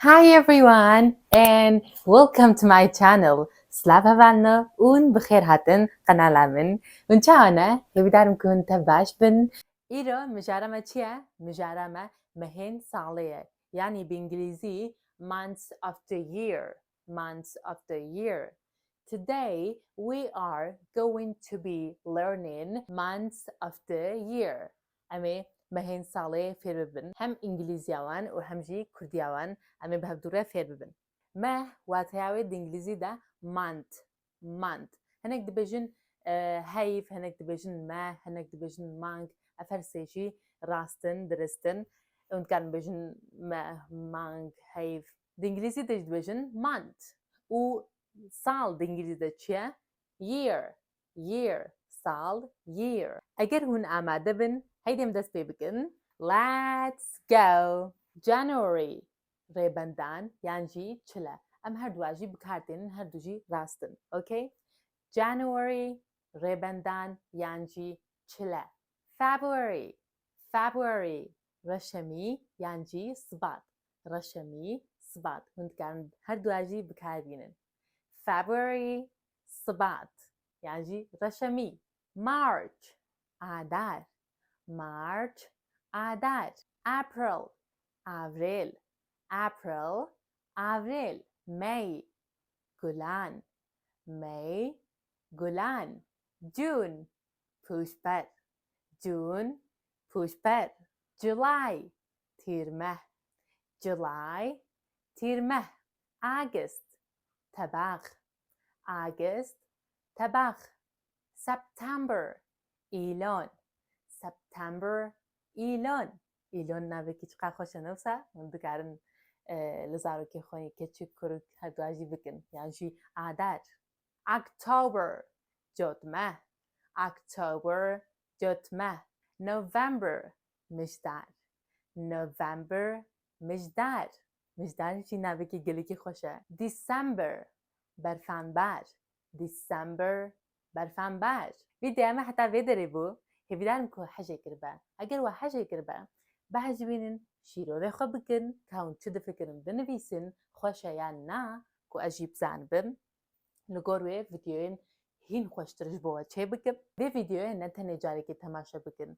Hi everyone and welcome to my channel Silav heval me ûn bi xêr hatin qenala min Hûn çawa ne? Hêvîdar im ku hûn tev baş bin Îro mijara me çi ye? Mijara me mehên salê ye yanî bi îngilîzî Months of the year Months of the year Today we are going to be learning Months of the year Em ê mehên salê fêr bibin hem îngilîzya wan û hem jî kurdîya wan. Em ê bi hevdu re fêr bibin. Meh wateya wê di îngilîzî de month, month. Hinek dibêjin heyv, hinek dibêjin meh, hinek dibêjin mang. Ev her sê jî rast in, dirist in. Hûn dikarin bibêjin meh, mang, heyv. Di îngilîzî de jî dibêjin month. Û sal di îngilîzî de çi ye? Year. year, sal, year. Eger hûn amade bin, heydê em dest pê bikin, Let's go! January, Rêbendan yan jî çile. Em her duwa jî bikar tênin, her du jî rast in. Ok? January, Rêbendan yan jî çile. February, February, Reşemî yan jî Sibat. Reşemî, Sibat. Hûn dikarin her duwa jî bikar bînin. February, Sibat yan jî reşemî, March, Adar, March, Adar, April, Avrêl, April, Avrêl, May, Gulan, May, Gulan, June, Pûşber, June, Pûşber, July, Tîrmeh, July, Tîrmeh, August, Tebax, Agist, tebex, September, îlon, September, îlon, îlon navekî çiqas xweş e ne wisa? Hûn dikarin li zarokên xwe yên keçik, kuruk her duwa jî bikin yan jî adar. October, cotme, October, cotme, November, mijdar, November, mijdar, Mijdan jî navekî gelekî xweş e. December, Berfember, December, Berfember. Vî deyeme heta vê derê bû, hêvîdar im ku hejê kiribe. Eger we hejê kiribe, behecivînin, şîrorê xwe bikin, ka hûn çi difikirin binivîsin, xweş e yan na, ku ez jî bizanibim. Li gor wê vîdeoyên hîn xweştir ji bo we çêbikim. Vê vîdeoyê ne tenê carekê temaşe bikin,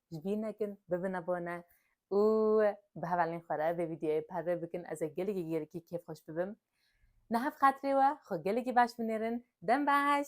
ji bîr nekin, bibin abone û bi hevalên xwe re vê vîdeoyê parve bikin ez ê gelekî gelekî kêfxweş bibim. Niha bi xatirê we xwe gelekî baş binêrin. Dem baş!